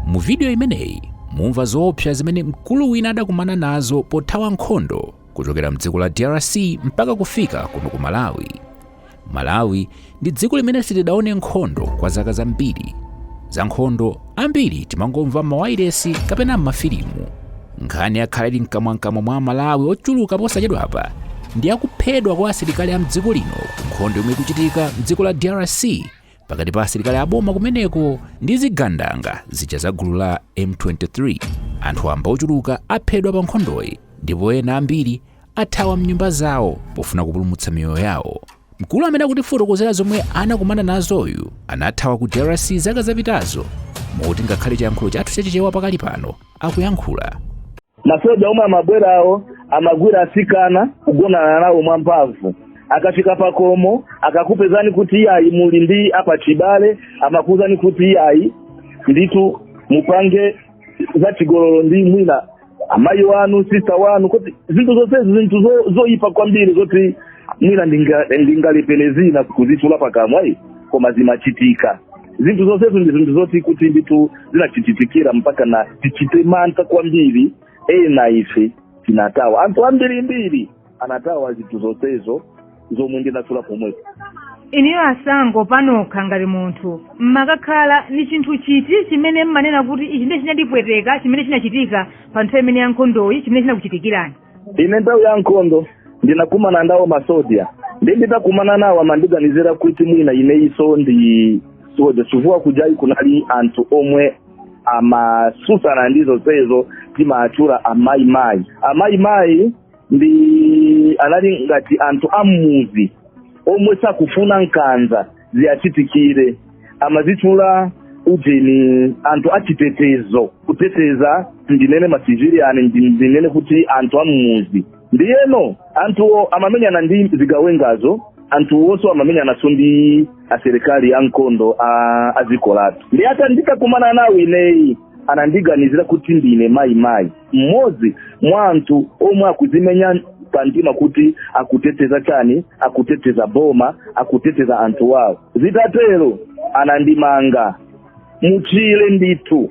Mu vidiyo imeneyi mumva zoopsa zimene mkulu wina adakumana nazo pothawa nkhondo kuchokera mdziko la DRC mpaka kufika kuno ku Malawi. Malawi ndi dziko limene sitidaone nkhondo kwa zaka zambiri. Za nkhondo ambiri timangomva m'mawailesi kapena m'mafilimu. Nkhani yakhala ili mkamwamkamwa mwa Amalawi ochuluka posachedwapa ndi yakuphedwa kwa asilikali a mdziko lino ku nkhondo yomwe ikuchitika mdziko la DRC pakati pa asilikali aboma kumeneko ndi zigandanga zija za gulu la m23 anthu wamba ochuluka aphedwa pa nkhondoyi ndipo ena ambiri athawa mnyumba zawo pofuna kupulumutsa miyoyo yawo mkulu amene akutifotokozera zomwe anakumana nazoyu anathawa ku drc zaka zapitazo moti ngakhale chiyankhulo chathu chachichewa pakali pano akuyankhula. Masoja omwe amabwerawo amagwira atsikana, kugonana nawo mwamphamvu. Akafika pakhomo, akakupezani kuti iyayi muli ndi apachibale, amakuuzani kuti iyayi ndithu mupange zachigololo ndi mwina amayi wanu, sista wanu, kuti zinthu zonsezi zinthu zo- zoyipa kwambiri zoti mwina ndinga- ndingalephere zina kuzitchula pakamwa ayi, koma zimachitika. zinthu zonsezo ndi zinthu zoti kuti ndithu zinatichitikira mpaka na tichite mantha kwambiri ena ife tinathawa anthu ambirimbiri anathawa zinthu zonsezo zomwe ndinatchula pomwepo inuyo Asango panokha ngati munthu mmakakhala ni chinthu chiti chimene mmanena kuti ichi ndiye chinandipweteka chimene chinachitika pa nthawi imene ya nkhondoyi chimene chinakuchitikirani ine nthawi ya nkhondo ndinakumana nawo masoja ndi nditakumana nawo amandiganizira kuti mwina inenso ndi soja chifukwa kujaku kunali anthu omwe amatsutsana ndi zonsezo timawatchula a Mai-Mai a Mai-Mai ndi anali ngati anthu ammuzi omwe sakufuna nkanza ziwachitikire amazitchula ujeni anthu achitetezo kuteteza ndinene masiviliani ndi- ndinene kuti anthu amumuzi ndiyeno anthuwo amamenyana ndi zigawengazo anthuwonso amamenyananso ndi asilikali a nkhondo a- a dziko lathu ndi ata nditakumana nawo ineyi anandiganizira kuti ndine Mai-Mai mmodzi mwa anthu omwe akudzimenya pamtima kuti akuteteza chani akuteteza boma akuteteza anthu wawo zitatero anandimanga mutchire ndithu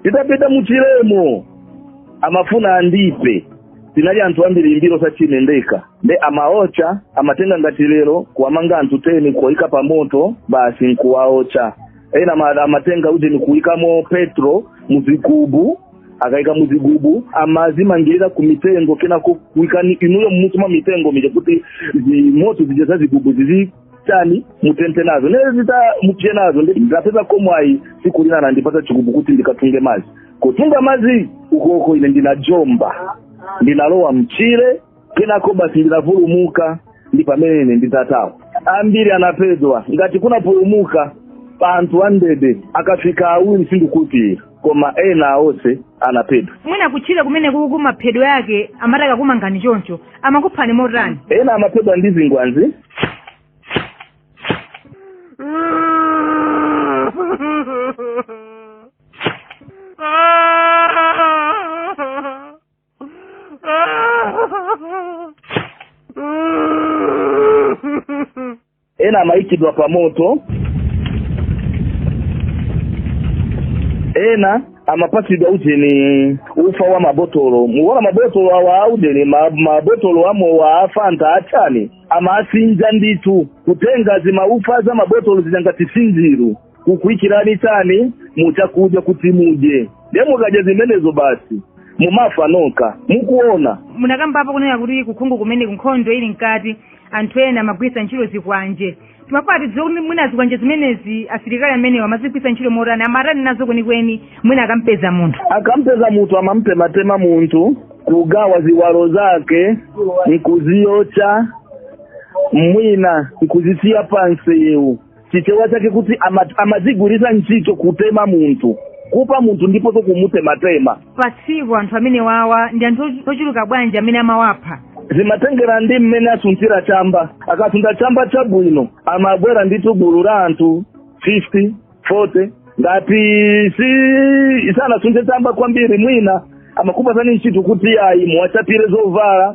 titapita mutchiremo amafuna andiphe tinali anthu ambirimbiri sachinendeka nde amawotcha amatenga ngati lero kuwamanga anthu teni kuwaika pa moto basi nkuwaotcha ena ama- amatenga ujeni kuikamo petulo muzigubu akaika muzigubu amazimangirira ku mitengo kenako kuikani inuyo mmusi mwa mitengo muja kuti zi- moto zija za zigubu zizi tani mutenthe nazo nene zita mupye nazo ndi ndapezako mwayi siku lina anandipatsa chigubu kuti ndikatunge madzi kutunga madzi ukoko ine ndinajomba ndinalowa mchire kenako basi ndinapulumuka ndi pamene ine nditathawa ambiri anaphedwa ngati kunapulumuka pa anthu amndende akafika awiri sindikhulupirira koma ena onse anaphedwa mwina kutchire kumene kuja maphedwe ake amati akakumangani choncho amakuphani motani ena amaphedwa ndi zikwanje ena amaikidwa pa moto ena amapatsidwa ujeni ufa wa mabotolo mukuona mabotolo awa aujeni ma- mabotolo amowa afanta achani amasinja ndithu kutenga zimaufa za mabotolo zija ngati sinjiru kukuikirani chani muchakudya kuti mudye ndiye mukadya zimenezo basi mumafa nokha mukuona munakambapo kunena kuti ku Congo kumeneku nkhondo ili mkati anthu ena amagwiritsa ntchito zikwanje timafuna tidziwe kuti mwina zikwanje zimenezi asilikali amenewa amazigwiritsa ntchito motani amatani nazo kwenikweni mwina akampeza munthu akampeza munthu amamtematema munthu kugawa ziwalo zake nkuziwotcha mwina nkuzisiya pansewu chichewa chake kuti ama- amazigwiritsa ntchito kutema munthu kupa munthu ndiponso kumutematema pa tsiku anthu amenewawa ndi anthu ochu- ochuluka bwanji amene amawapha zimatengera ndi mmene asutira chamba akasuta chamba chabwino amabwera ndithu gulu la anthu 50 40 ngati si sanasute chamba kwambiri mwina amakupatsani ntchito kuti ayi muwachapire zovala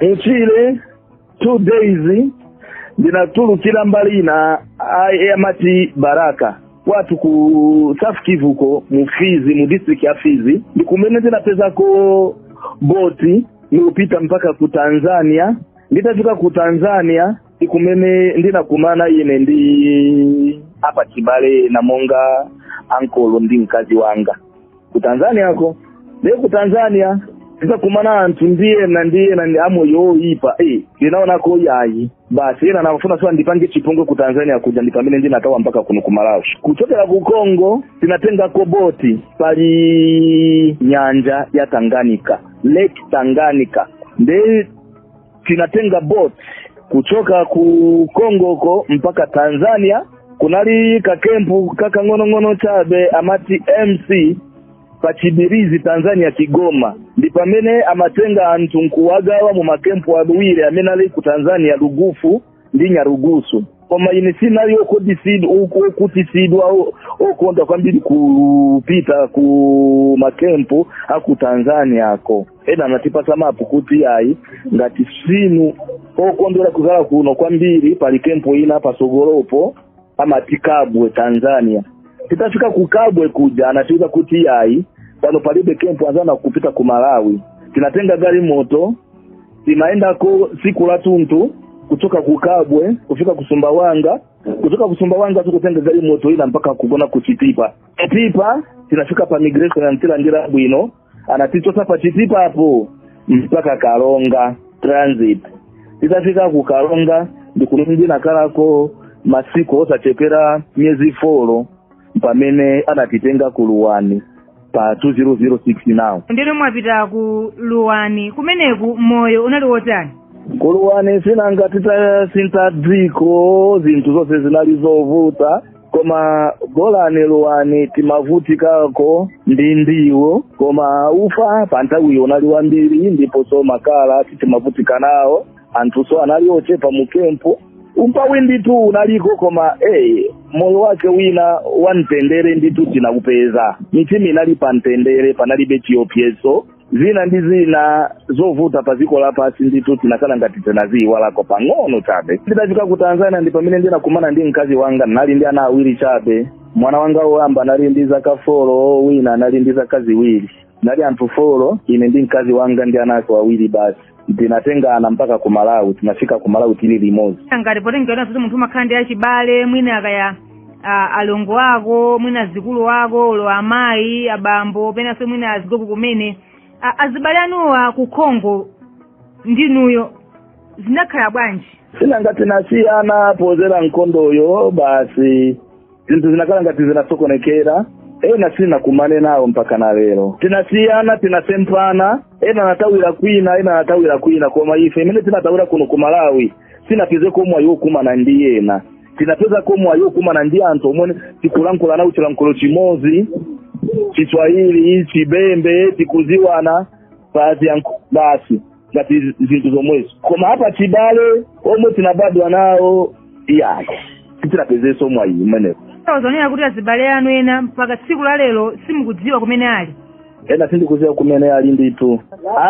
mutchire two days ndinatulukira mbali ina amati baraka kwathu ku south kivu ko mu fizi mu district ya fizi ndi kumene ndinapezako boti nkupita mpaka ku tanzania nditafika ku tanzania ndi kumene ndinakumana ine ndi apachibale na monga ankolo ndi mkazi wanga ku tanzania ko ndiye ku tanzania titakumana anthu ndi ena ndi ena ndi amoyo oyipa eh ndinaonako ayi basi ena anafuna azandipange chipongwe ku tanzania kuja ndipamene ndinathawa mpaka kuno ku malawi kuchokera ku congo tinatengako boti pali nyanja ya tanganyika lake tanganyika nde tinatenga boat kuchoka ku Kongo uko mpaka Tanzania kunali kakempu kakang'onong'ono chabe amati MC pachibirizi Tanzania Kigoma ndi pamene amatenga anthu nkuwagawa mumakempu awiri amene ali ku Tanzania Lugufu ndi nyarugusu koma ine sinali okhutitsidwa o- okonda kwambiri kupita ku makempu aku tanzania ko ena anatipasa mapu kuti ayi ngati simu okondwera kukhala kuno kwambiri pali kempu ina pasogolopo amati kabwe tanzania titafika ku kabwe kuja anatiuza kuti iyayi pano palibe kempu munzana kupita ku malawi tinatenga gari moto tinaendako siku la tuntu kuchoka ku kabwe kufika ku sumbawanga kuchoka ku sumbawanga nkutenga gari moto ina mpaka kugona ku chitipa chitipa tinafika pa migration anatilandira bwino anatichotsa pa chitipapo mpaka karonga transit titafika ku karonga ndikumene tinakhalako masiku osachepera miyezi folo pamene anatitenga ku luwani pa 2006 nano ndeno mwapita ku luwani kumeneko moyo unali wotani ku luwani sinanga titasintha dziko zinthu zonse zinali zovuta koma bolani luwani timavutikako ndi ndiwo koma ufa pa nthawiyo unali wambiri ndiponso makala timavutika nawo anthuso anali ochepa mu kempu umpawi nditu unaliko koma hey, moyo wake unali wa mtendere nditu tinaupeza mitima inali pa mtendere panalibe chiopyezo zina ndi zina zovuta pa dziko lapansi ndithu tinakhala ngati tinaziyiwalako pang'ono chabe ndidafika ku tanzania ndi pamene ndinakumana ndi mkazi wanga tinali ndi ana awiri chabe mwana wanga woyamba anali ndi zaka folo wina anali ndi zaka ziwiri tinali anthu folo ine ndi mkazi wanga ndi ana athu awiri basi tinatengana mpaka ku malawi tinafika ku malawi tili limodzi nanga potengera kuti munthu umakhala ndi achibale mwina akaya a- alongo ako mwina azikulu ako olo amayi abambo penanso mwina azigogo kumene A- azibale anuwo a ku congo ndi inuyo zinakhala bwanji sinanga tinasiyana podzera nkondoyo basi zinthu zinakhala ngati zinasokonekera ena sitinakumane nawo mpaka na lero tinasiyana tinasemphana ena anathawira kwina ena anathawira kwina koma ife amene tinathawira kuno ku malawi tinapezeko mwayi wokumana ndi ena tinapezako mwayi wokumana ndi anthu omwe tikulankhula nawo chilankhulo chimodzi chiswahili chibembe tikuziwana basi ya basi ngati zinthu zomwezo koma apa chibale omwe tinabadwa nawo iyayi sitinapezenso mwayi umenewo Mukunena kuti azibale anu ena mpaka tsiku la lero simukudziwa kumene ali ena sindikudziwa kumene ali ndithu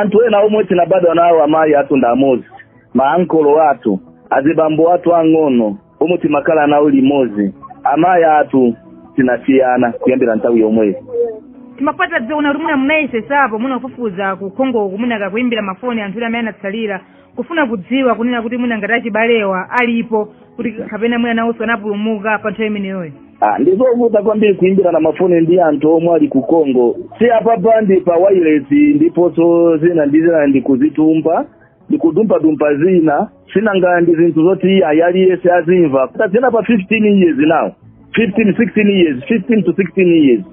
anthu ena omwe tinabadwa nawo amayi athu ndi amodzi maankolo athu azibambo athu ang'ono omwe timakhala nawo limodzi amayi athu tinasiyana kuyambira nthawi yomweyo Timafuna tidziwe ngati mwina munayesetsapo mwina kufufuza ku Congo'ko mwina kakuimbira mafoni anthu ena amene anatsalira kufuna kudziwa kunena kuti mwina ngati achibalewa alipo kuti kapena mwina nawonso anapulumuka pa nthawi imeneyoyo Ah, ndizovuta kwambiri kuimbirana mafoni ndi anthu omwe ali ku Congo si apapa ndi pa wireless ndiponso zina ndi zina ndikuzitumpa ndikudumpadumpa zina sinanga ndi zinthu zoti ayi aliyense azimva tasiyana pa 15 years nawo 15 16 years 15 to 16 years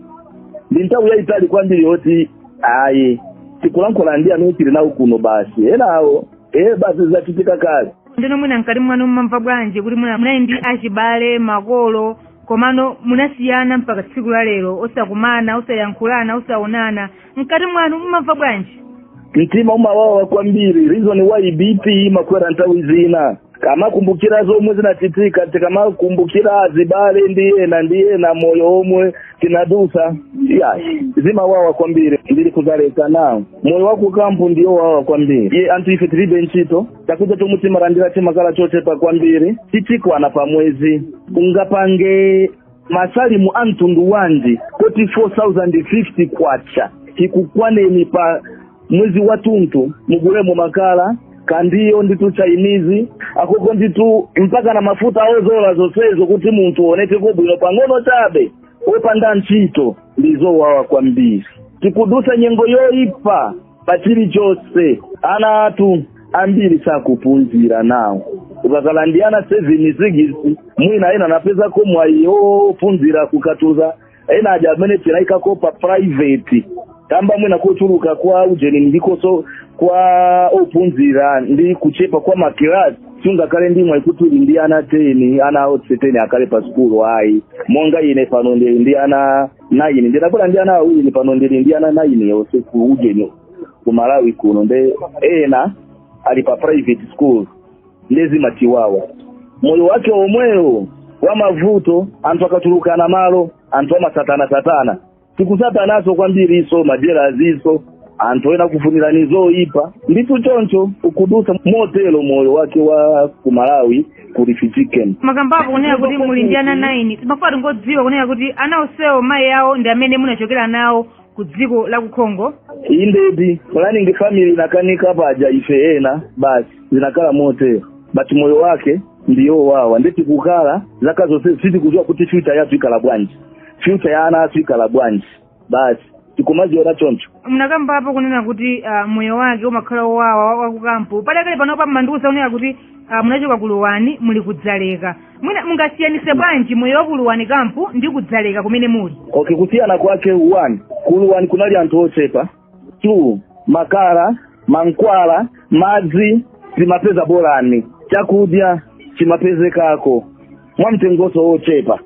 ndi nthawi yayitali kwambiri yoti ayi tikulankhula ndi amene tili nawo kuno basi enawo ee basi zidachitika kale ndiyeno mwina mkati mwanu mumamva bwanji kuti mwina munali ndi achibale makolo komano munasiyana mpaka tsiku la lero osakumana osayankhulana osaonana mkati mwanu mumamva bwanji mtima umawawa kwambiri reason why bp imakwera nthawi zina tikamakumbukira zomwe zinachitika tikamakumbukira azibale ndi ena ndi ena moyo omwe tinadusa ya zimawawa kwambiri ndili ku Dzaleka now moyo wakukampu ndi wowawa kwambiri ye anthu ife tilibe ntchito chakudya chomwe timalandira chimakhala chochepa kwambiri sichikwana pa mwezi ungapange masamu a mtundu wanji kuti 4050 kwacha ikukwaneni pa mwezi wathunthu mugulemo makala kandiwo ndithu chainizi akoko ndithu mpaka na mafuta odzola zonsezo kuti munthu uonekeko bwino pang'ono chabe opanda ntchito ndizowawa kwambiri tikudusa nyengo yoipa pa chilichonse ana athu ambiri sakuphunzira nawo ukakhala ndi ana seven sikisi mwina ena anapezako mwayi ophunzira ku Katubza ena aja amene tinaikako pa private kamba mwina kuchuluka kwa ujeni chikhomso kwa ophunzira ndi kuchepa kwa makilasi sungakhale ndi mwayi kuti uli ndi ana ten ana onse ten akhale pa sukulu ayi monga ine pano ndi ndi ana naini ndidabwera ndi ana awiri pano ndili ndi ana naini onse ku ujeni ku Malawi kuno nde ena ali pa private school nde zimatiwawa moyo wake omwewo wa mavuto anthu akachulukana malo anthu amatsatana tsatana tikutsatananso kwambirinso majelasinso anthu ena kufunirana zoyipa ndithu choncho tikudusa motero moyo wake wa ku Malawi kuti chichikeni munakambapo kunena kuti muli ndi ana 9 timafuna tingodziwa kunena kuti ana onsewo mayi wawo ndi amene munachokera nawo ku dziko la ku Congo indeed planning family inakanika paja ife ena basi zinakhala motero but moyo wake ndi wowawa nde tikukhala zaka zonsezi sitikudziwa kuti future yathu ikhala bwanji future ya ana athu ikhala bwanji basi tikumaziona choncho munakambapo kunena kuti ah, moyo wake umakhala wowawa wa- wakukampu padakali panopa mmandiuza kunena kuti ah, munachoka kuluwani muli kudzaleka mwina mungasiyanise bwanji moyo wa kuluwani kampu ndi kudzaleka kumene muli okay kusiyana kwake one kuluwani kunali anthu ochepa two makala mankhwala madzi timapeza bolani chakudya chimapezekako mwa mtengonso wochepa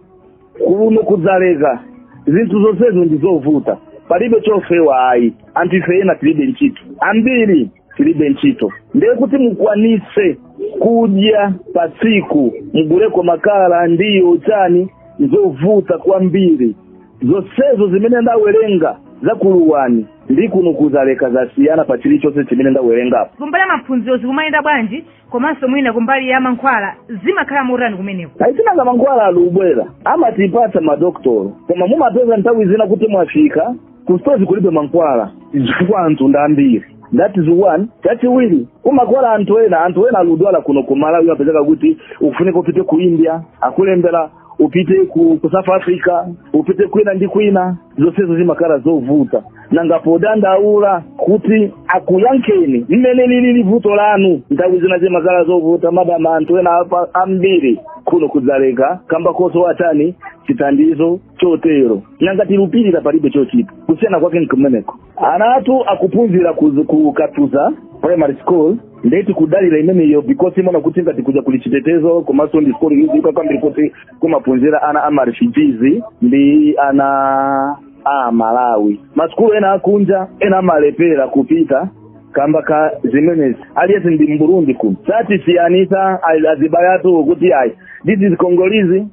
kuno kudzaleka zinthu zonsezo ndi zovuta palibe chofewa ayi anthu ife ena tilibe ntchito ambiri tilibe ntchito ndiye kuti mukwanitse kudya pa tsiku muguleko makala ndiyo chani nzovuta kwambiri zonsezo zimene ndawerenga za kuluwani ndi kuno kudzaleka zasiyana pa chilichonse chimene ndawerengapo kumbali ya maphunziro zikumayenda bwanji komanso mwina kumbali ya mankhwala zimakhala motani kumeneko ayi nanga mankhwala alikubwera amatipatsa madokotolo koma mumapeza nthawi zina kuti mwafika kustozi kulibe mankhwala chifukwa anthu ndi ambiri that is one chachiwiri umakhala anthu ena anthu ena alikudwala kuno ku malawi amapezeka kuti ukufunika upite ku india akulembera upite ku, ku south africa upite kwina ndi kwina zonsezo zimakhala zovuta nanga podandaula kuti akuyankheni mmene lilili vuto lanu nthawi zina zimakhala zovuta mafa anthu ena apa- ambiri kuno kudzaleka kamba kosowa chani chithandizo chotero nanga tilupirira palibe chochita kusiyana kwake nkumeneko ana athu akuphunzira ku- ku katuza primary school ndiye tikudalira imeneyo because timaona kuti ngati kuja kuli chitetezo komanso ndi school yodziwika kwambiri kuti kumaphunzira ana a marefugees ndi ana a malawi masukulu ena akunja ena amalepera kupita kamba ka zimenezi aliyense ndi mburundi kuno satisiyanitsa azibale athu kuti ayi this is congolese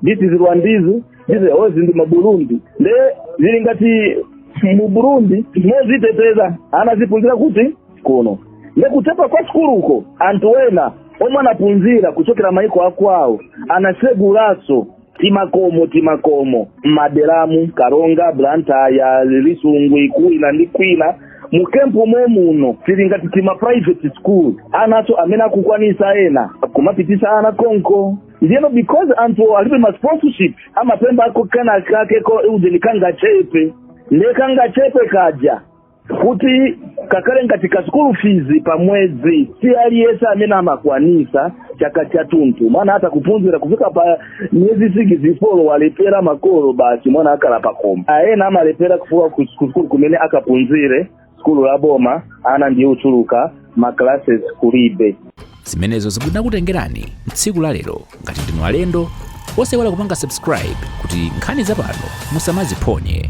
this is rwandese this onse ndi maburundi nde zili ngati mburundi moziteteza ana azipunzira kuti kuno nde kuchepa kwa sukuluko anthu wena omwe anaphunzira kuchokera mayiko akwawo anasegulaso timakomo timakomo maderamu karonga blantyre lisungwi kwina ndi kwina mu kampu momuno tili ndi tima private school anaso amene akukwanisa ena akumapititsa ana konko ndiyeno because anthu alibe ma sponsorship amapempha kenakake ko ujeni kangachepe nde kangachepe kaja kuti kakale ngati ka school fees pa mwezi si aliyese amene amakwanisa chaka chathunthu mwana atha kuphunzira kufika pa miyezi sikisi folo walephera makolo basi mwana akhala pakhomo ena amalephera kufika ku school kumene akaphunzire sukulu za boma ana ndiye ochuluka ma classes kulibe zimenezo zomwe tinakutengerani tsiku la lero ngati ndinu alendo osaiwala kupanga subscribe kuti nkhani zapano musamaziphonye